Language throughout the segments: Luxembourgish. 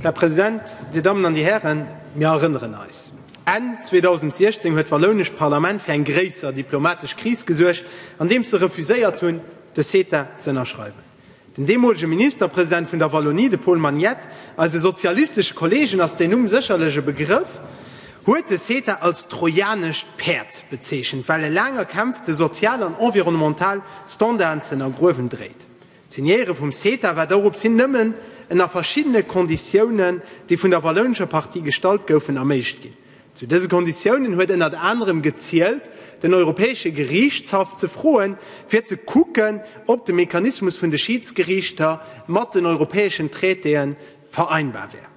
Här President, Dir Dammen an Dir Hären, mir erënneren eis, Enn 2016 huet d'wallounescht Parlament fir eng gréisser diplomatesch Kris gesuergt, andeems se refuséiert hunn, de CETA ze ënnerschreiwen. Den deemolege Ministerpresident vun der Wallonie, de Paul Magnette, eise sozialistesche Kollegen ass deen Numm sécherlech e Begrëff, huet de CETA als trojanescht Päerd bezeechent, well e laang erkämpfte sozial an environnemental Standarden ze ënnergruewen dréit. D'Signéiere vum CETA war doropshin nëmmen ënner verschiddene Konditiounen, déi vun der wallounescher Partie gestallt goufen, erméiglcht ginn. Zu dëse Konditiounen huet ënnert anerem gezielt, den Europäesche Geriichtshaff ze froen, fir ze kucken, ob de Mechanismus vun de Schiidsgeriichter mat den europäeschen Traitéen vereinbar wär.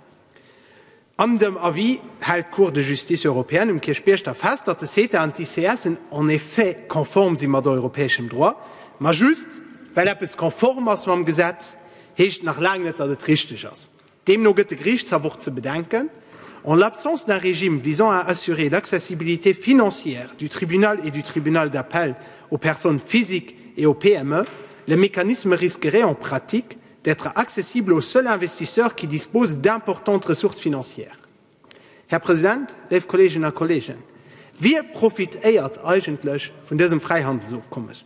An dem Avis hält d'Cour de Justice européenne um Kierchbierg da fest, datt de CETA an d'ICS en effet konform si mat europäeschem Droit. Ma just well eppes konform ass mam Gesetz, heescht et nach laang net, datt et richteg ass. Deemno gëtt de Geriichtshaff och ze bedenken, En l'absence d'un régime visant à assurer l'accessibilité financière du tribunal et du tribunal d'appel aux personnes physiques et aux PME, le mécanisme risquerait en pratique, d'être accessible aux seuls investisseurs qui disposent d'importantes ressources financières. Här President, léif Kolleeginnen a Kolleegen, wie profitéiert eigentlech vun dësem Fräihandelsofkommes?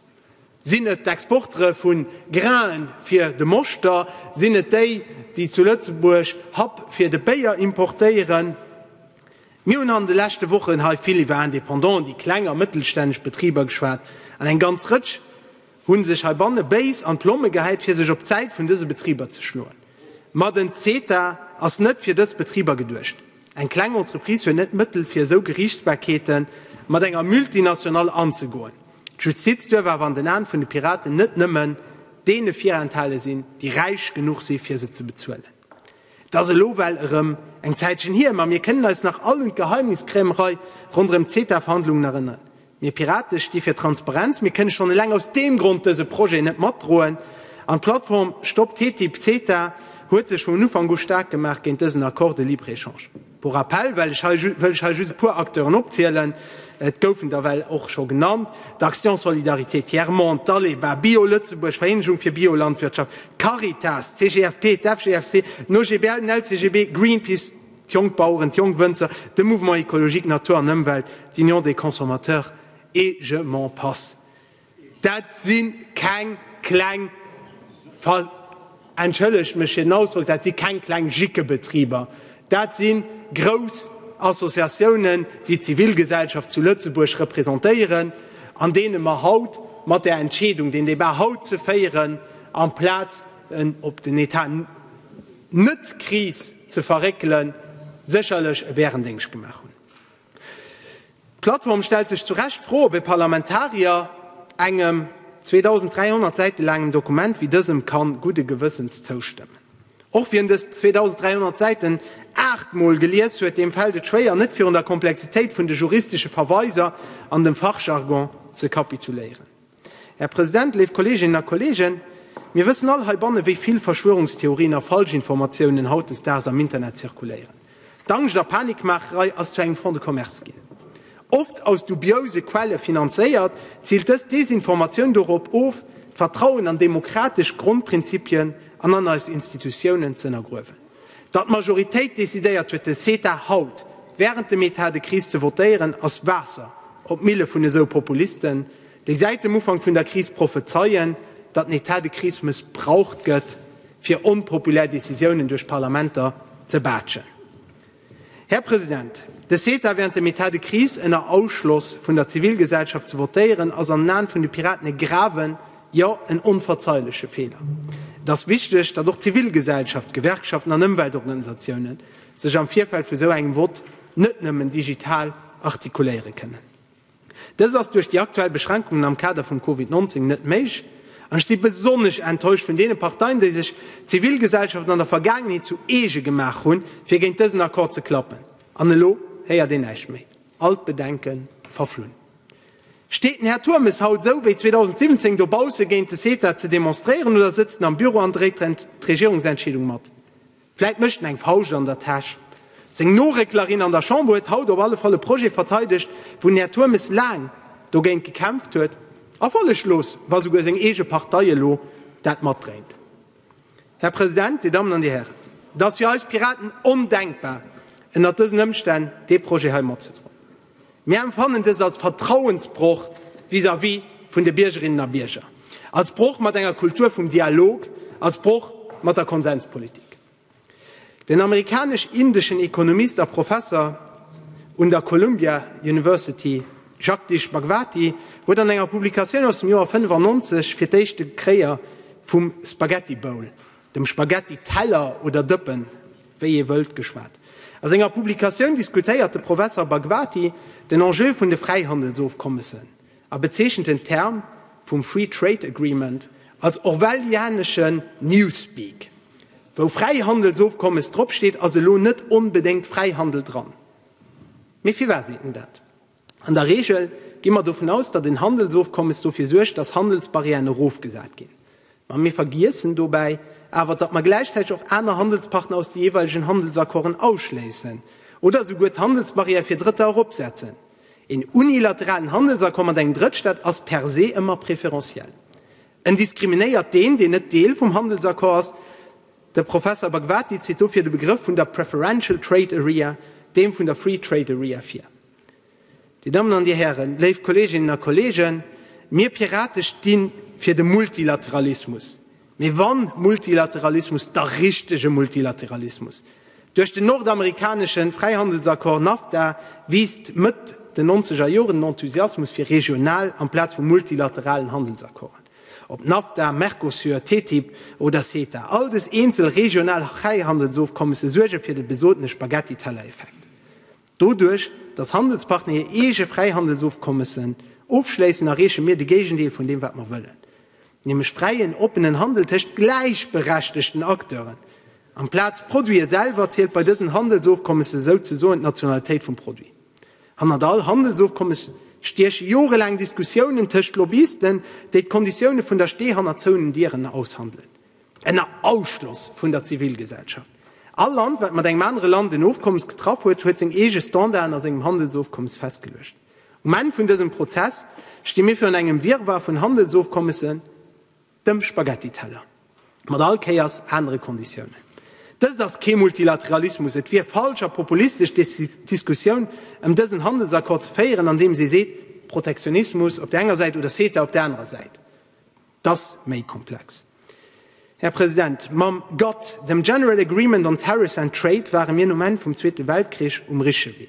Sinn et d'Exportere vu Grain fir de Moschter? Sinn et déi, déi zu Lëtzebuerg Happ fir de Béier importéieren? Mir hunn an de leschte Wochen hei vill iwwer Indépendant, déi kleng a mëttelstänneg Betriber geschwat, an eng ganz Rëtsch hunn sech heibanne béis an d'Plomme gehäit fir sech op d'Säit vun dëse Betriber ze schloen. Ma den CETA ass net fir dës Betriber geduecht. Eng kleng Entreprise huet net d'Mëttel fir esou Geriichtsbarkeete mat enger Multinationale anzegoen. D'Justiz duerf awer an den Aen vun de Piraten net nëmmen deene virenthale sinn, déi räich genuch si fir se ze bezuelen. Et ass elo well erëm eng Zäitchen hier, ma mir kënnen eis nach all un d'Geheimniskrämerei ronderëm d'CETA-Verhandlungen erënneren. Mir Pirate sti fir Transparenz. Mir kënne schonn eleng aus deem Grond dëse Projet net matdroen. An d'Plattform Stop TTIP-CETA huet sech vun Ufank u staark gemaach géint dësen Accord de libre-échange. Pour rappel wëll ech hei just e puer Acteuren opzielen, et goufen der well och scho genannt, d'Action Solidarité Tiers Monde, d'ALEBA, Bio Lëtzebuerg, d'Vereenegung fir Biolandwirtschaft, d'Caritas, d'CGFP, d'FGFC, den OGBL, den LCGB, Greenpeace, d'Jongbaueren, d'Jongwënzer, de Mouvement Ecologique Natur an Ëmwelt, d'Union des Consommateurs et je m'en passe. Dat si keng kleng, entschëllegt mech fir den Ausdrock, dat si keng kleng Jickebetriber, dat si grouss Associatiounen, déi d'Zivilgesellschaft zu Lëtzebuerg representéieren an deene mer haut mat där Entscheedung, deen Debat haut ze féieren, amplaz en op den Etat net-Kris ze verréckelen, sécherlech e Bärendéngscht gemaach hunn. D'Plattform stellt sech zu Recht d'Fro, ob ee Parlamentarier engem 2.300 Säite laangem Dokument wéi dësem kann gudde Gewëssens zoustëmmen. Och wien dës 2.300 Säiten aacht Mol gelies huet, deem fält et schwéier, net virun der Komplexitéit vun de juristesche Verweiser an dem Fachjargon ze kapituléieren. Här President, léif Kolleeginnen a Kolleegen, mir wëssen all heibanne wéi vill Verschwörungstheorien a Falschinformatiounen hautdesdaags am Internet zirkuléieren. D'Angscht a Panikmaacherei ass zu engem Fonds de commerce ginn. Oft aus dubiouse Quelle finanzéiert, ziilt dës Desinformatioun dorop of, d'Vertrauen an demokratesch Grondprinzipien an an eis Institutiounen z'ënnergruewen. Datt d'Majoritéit decidéiert huet den CETA haut während dem Etat de crise ze votéieren ass Waasser op d'Mille vun esou Populisten, déi säit dem Ufank vun der Kris prophezeien, datt den Etat de crise mëssbraucht gëtt fir onpopulär Decisiounen duerch d'Parlamenter ze baatschen. Här President, de CETA während dem Etat de crise ënner Ausschloss vun der Zivilgesellschaft ze votéieren ass an den Aen vun de Piraten e graven Jo, en onverzeihleche Fehler. Et ass wichteg, datt och d'Zivilgesellschaft, d'Gewerkschaften an Ëmweltorganisatiounen sech am Virfeld vu sou engem Vott net nëmmen digital artikuléiere kënnen. Dëst ass duerch déi aktuell Beschränkungen am Kader vum Covid 19 net méich an ech si besonnesch enttäuscht vun deene Parteien, déi sech d'Zivilgesellschaft an der Vergaangenheet zu eege gemaach hunn, fir géint dësen Accord ze klappen. An elo héiert een näischt méi. All d'Bedenke verflunn. Steet den Här Turmes haut esou wéi 2017 dobausse géint de CETA ze demonstréieren oder sëtzt en am Büro an dréit d'Regierungsentscheedung mat? Vläit mécht en eng Fauscht an der Täsch. Seng Norécklerin an der Chamber huet haut op alle Fall e Projet verteidegt, wou den Här Turmes laang dogéint gekämpft huet a folleglos, wa esouguer seng eege Partei elo dat matdréint. Här President, Dir Dammen an Dir Hären, et ass fir eis Piraten ondenkbar, ënnert dësen Ëmstänn dee Projet hei matzedroen. Mir emfannen dës als Vertrauensbroch vis-à-vis vun de Biergerinnen a Bierger, als Broch mat enger Kultur vum Dialog, als Broch mat der Konsenspolitik. Den amerikanesch-indeschen Ekonomist a Professer un der Columbia University Jagdish Bhagwati huet an enger Publikatioun aus dem Joer 1995 fir d'éischte Kréier vum Spaghetti Bowl, dem Spaghetti-Teller oder Dëppen, wéi ee wëllt, geschwat. A senger Publikatioun diskutéiert de Professer Bhagwati den Enjeu vun de Fräihandelsofkommessen a bezeechent den Term vum Free Trade Agreement als orwellianeschen Newspeak. Wou Fräihandelsofkommes dropsteet, ass elo net onbedéngt Fräihandel dran. Mee firwat seet en dat? An der Reegel gi mer dovun aus, datt en Handelsofkommes dofir suergt, datt Handelsbarrièren erofgesat ginn. Mä mir vergiessen dobäi awer, datt mer gläichzäiteg och aner Handelspartner aus de jeeweilegen Handelsaccorden ausschléissen oder esouguer d'Handelsbarrière fir Drëtter eropsetzen. Een unilateralen Handelsaccord mat engem Drëttstaat ass per se ëmmer préférentiel. En diskriminéiert deen, deen net Deel vum Handelsaccord ass. De Professer Bhagwati zitt dofir de Begrëff vun der Preferential Trade Area deem vun der Free Trade Area vir. Dir Dammen an Dir Hären, léif Kolleeginnen a Kolleegen, mir Pirate sti fir de Multilateralismus, mee wa Multilateralismus, da richtege Multilateralismus. Duerch den nordamerikanesche Fräihandelsaccord NAFTA wiisst Mëtt den nonzeger Joren den Enthusiasmus fir regional amplaz vu multilateralen Handelsaccorden. Ob Nafta, Mercosur, TTIP oder CETA, all des eenzel regional Hreihandelsofkommesse suerge fir de besotene Spaghetti-Teller-Effekt. Doduerch, datt Handelspartner hir eege Fräihandelsofkommessen ofschléissen, erreeche mir de Géigendeel vun deem, wat mer wëllen, nämlech fräien, oppenen Handel tëscht gläichberechtegten Acteuren. Amplaz Produite selwer zielt bei dësen Handelsofkommesse souzesoen d'Nationalitéit vum Produit. Hannert all Handelsofkommes stieche jorelaang Diskussiounen tëscht Lobbyisten, déi d'Konditioune vun der Stee hannert zouenen Dieren aushandelen, ënner Ausschloss vun der Zivilgesellschaft. All Land, wat mat engem anere Land en Ofkommes getraff huet, huet seng eege Standarden a sengem Handelsofkommes festgeluecht. Um Enn vun dësem Prozess sti mir virun engem Wirrwarr vun Handelsofkommessen, Dem Spaghetti-Teller, mat all Kéiers anere Konditiounen. Dëst ass kee Multilateralismus. Et wier falsch a populistesch d'Diskussioun ëm dësen Handelsaccord ze féieren, andeems ee seet, Protektionismus op der enger Säit oder CETA op der anerer Säit. Et ass méi komplex, Här President. Mam GATT, dem General Agreement on Tariffs and Trade, ware mir nom Enn vum Zweete Weltkrich um richtege Wee.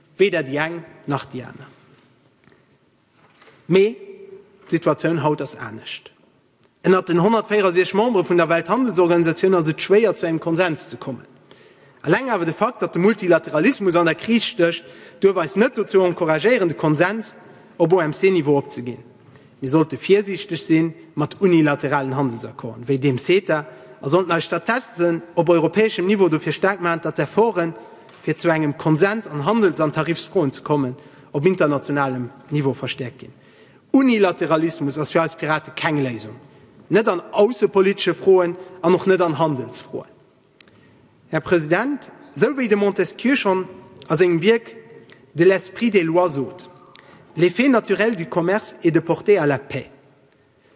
Weder déi eng nach déi aner. Mee d'Situatioun haut ass anescht. Ënnert den 164 Membere vun der Welthandelsorganisatioun ass et schwéier zu engem Konsens ze kommen. Eleng awer de Fakt, datt de Multilateralismus an der Kris stécht, duerf eis net dozou encouragéieren de Konsens op OMC-Niveau opzeginn. Mir sollte virsiichteg si mat unilateralen Handelsaccorden, wéi deem CETA, a sollten eis stattdessen op europäeschem Niveau dofir staark maachen, datt d'Efforten, fir zu engem Konsens an Handels an Tarifsfroen ze kommen, op internationalem Niveau verstäerkt ginn. Unilateralismus ass fir eis Pirate keng Léisung, net an aussepolitesche Froen an och net an Handelsfroen. Här President, esou wéi de Montesquieu schonn a sengem Wierk De l'esprit des lois sot, L'effet naturel du commerce est de porter à la paix,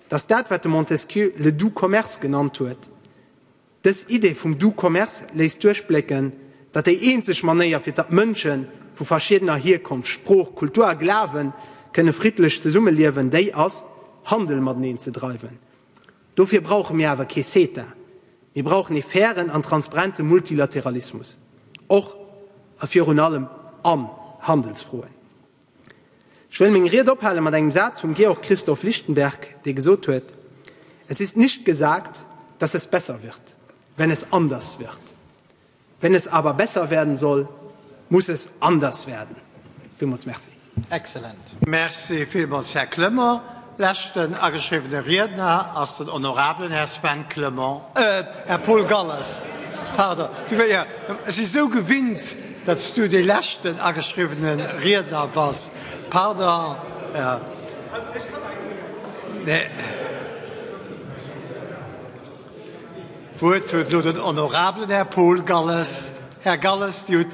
dass dat, wat de Montesquieu le doux commerce genannt huet, dës Idee vum doux commerce léisst duerchblécken, datt déi eenzeg Manéier, fir datt d'Mënsche vu verschiedener Hierkonft, Sprooch, Kultur a Glawen kënne friddlech zesummeliewen, déi ass, Handel mateneen ze dreiwen. Dofir brauche mir awer kee CETA. Mir brauchen ee fairen an transparente Multilateralismus, och a virun allem an Handelsfroen. Ech wëll meng Ried ophale mat engem Saz vum Georg Christoph Lichtenberg, dee gesot huet, Es ist nicht gesagt, dass es besser wird, wenn es anders wird. Wenn es aber besser werden soll, muss es anders werden. Villmools Merci. Excellent. Merci villmools, Här Clement. Leschten ageschriwwene Riedner ass den honorabelen Här Sven Clement, Här Paul Galles, pardon. Ech si sou gewinnt, datt s Du dee leschten ageschriwwene Riedner bass, pardon. D'Wuert huet elo den honorabelen Här Paul Galles. Här Galles, Dir hutt.